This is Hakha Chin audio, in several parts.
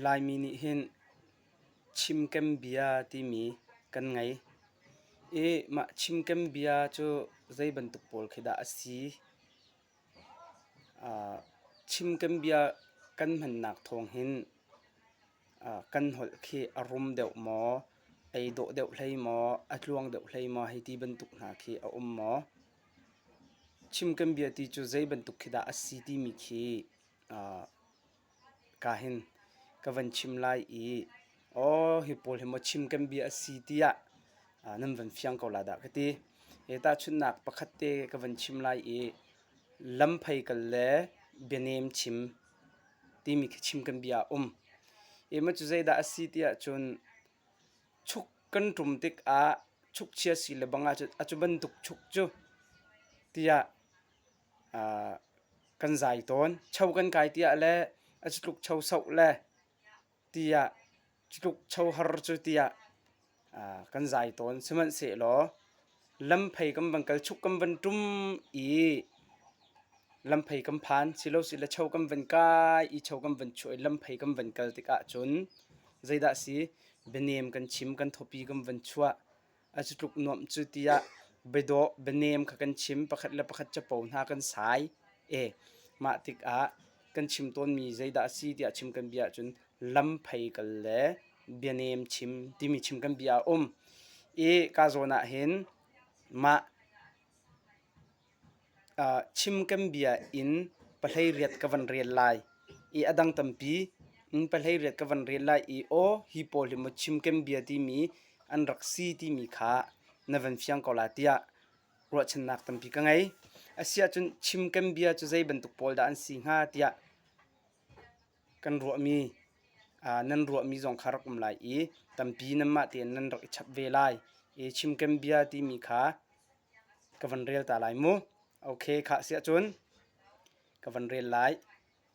Laimi nih hin chimkem bia timi kan ngei i mah chimkem bia cu zei bantuk pawl khi dah a si? chimkem bia kan hmannak thawng hin kan holh khi a rum deuh maw, ei dawh deuh hlei maw, a tluang deuh hlei maw hei ti bantuk hna khi a um maw? Chim kan bia ti cu zei bantuk khi dah a si timi khi ka hin ka van chim lai i aw hi pawl hi maw chim kan bia a si tiah nan van fiang ko la dah ka ti. Hi tahchunhnak pakhat te ka van chim lai i lam phei kal le bianem chim timi khi chim kan bia a um. Hi maw cu zeidah a si tiah cun chuk kan ṭum tikah chukchia si le bang ahcun a cu bantuk chuk cu tiah uh, kan zai tawn. Cho kan kai tiah le a citluk cho soh le tiah citluk cho har cu tiah uh, kan zai tawn. Sihmanhsehlaw Lamphei kan van kal chuk kan van ṭum i lamphei kan phan. Silosile cho kan van kai i cho kan van chuah i lamphei kan van kal tikah cun zeidah a si? Bianem kan chim, kan thawpi kan van chuah. A cu tluk nuamh cu tiah biadawh, bianem kha kan chim. Pakhat le pakhat capo hna kan sai. E, mah tikah kan chim tawnmi zeidah a si tiah chim kan bia ahcun lam phei kal le bianem chim timi chim kan bia a um i ka zawn ah hin mah uh, chim kan bia in pahlei riat ka van rial lai i a dang tampi in pahlei riat ka van rial lai i o hi pawl hi mo chim kem bia timi an rak si timi kha na van fiang ko la tiah ruahchannak tampi ka ngei. Asiahcun chim kan bia cu zei bantuk pawl dah an si hnga tiah kan ruahmi nan ruahmi zong kha rak um lai i tampi nanmah tein nan rak i chap ve lai. I chim kan bia timi kha ka van rel ta lai mu. Okay, kha asiahcun ka van rel lai.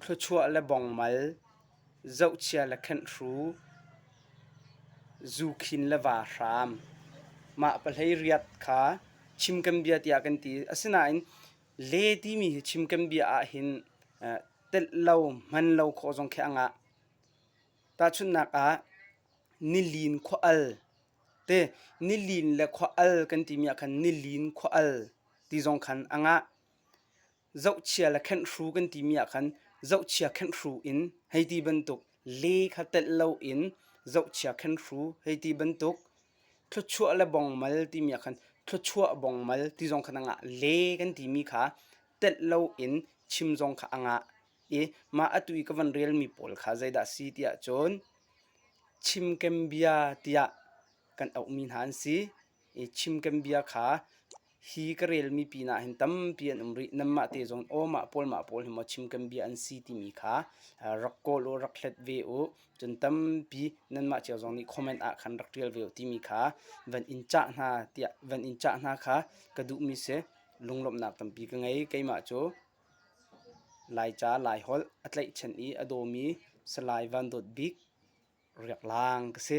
Thluachuah le bongmal, zohchia le khenhru, zukhin le va hram. Mah pahleiriat kha chimkembia tiah kan ti. Asinain le timi hi chimkembia ahhin telh lo, hman lo khawh zong khi a ngah. Tahchunhnak ah, nilin khual te nilin le khual kan timi ahkhan nilin khual ti zong khan a ngah. zohchia le khenhru kan timi ah khan zohchia khenhru in hei ti bantuk le kha telh loin zohchia khenhru hei ti bantuk thluachuah le bongmal timi ah khan thluachuah bongmal ti zong khan angah le kan timi kha telh loin chim zong kha angah i mah atu i ka van relmi pawl kha zeidah si tiah cun chimkem bia tiah kan auhmi hna an si i chim kan bia kha hi ka relmi pinah hin tampi an um rih nanmah te zong awmah pawl mah pawl hi maw chim kan bia an si timi kha rak kawl u rak hlet ve u cun tampi nanmah cio zong nih comment ah khan rak tial ve u timi kha van in cah hna tiah van in cah hna kha ka duhmi se lunglawmhnak tampi ka ngei keimah cu laica laiholh a tlaihchan i a dawmi salai van dawt bik riak laang ka si.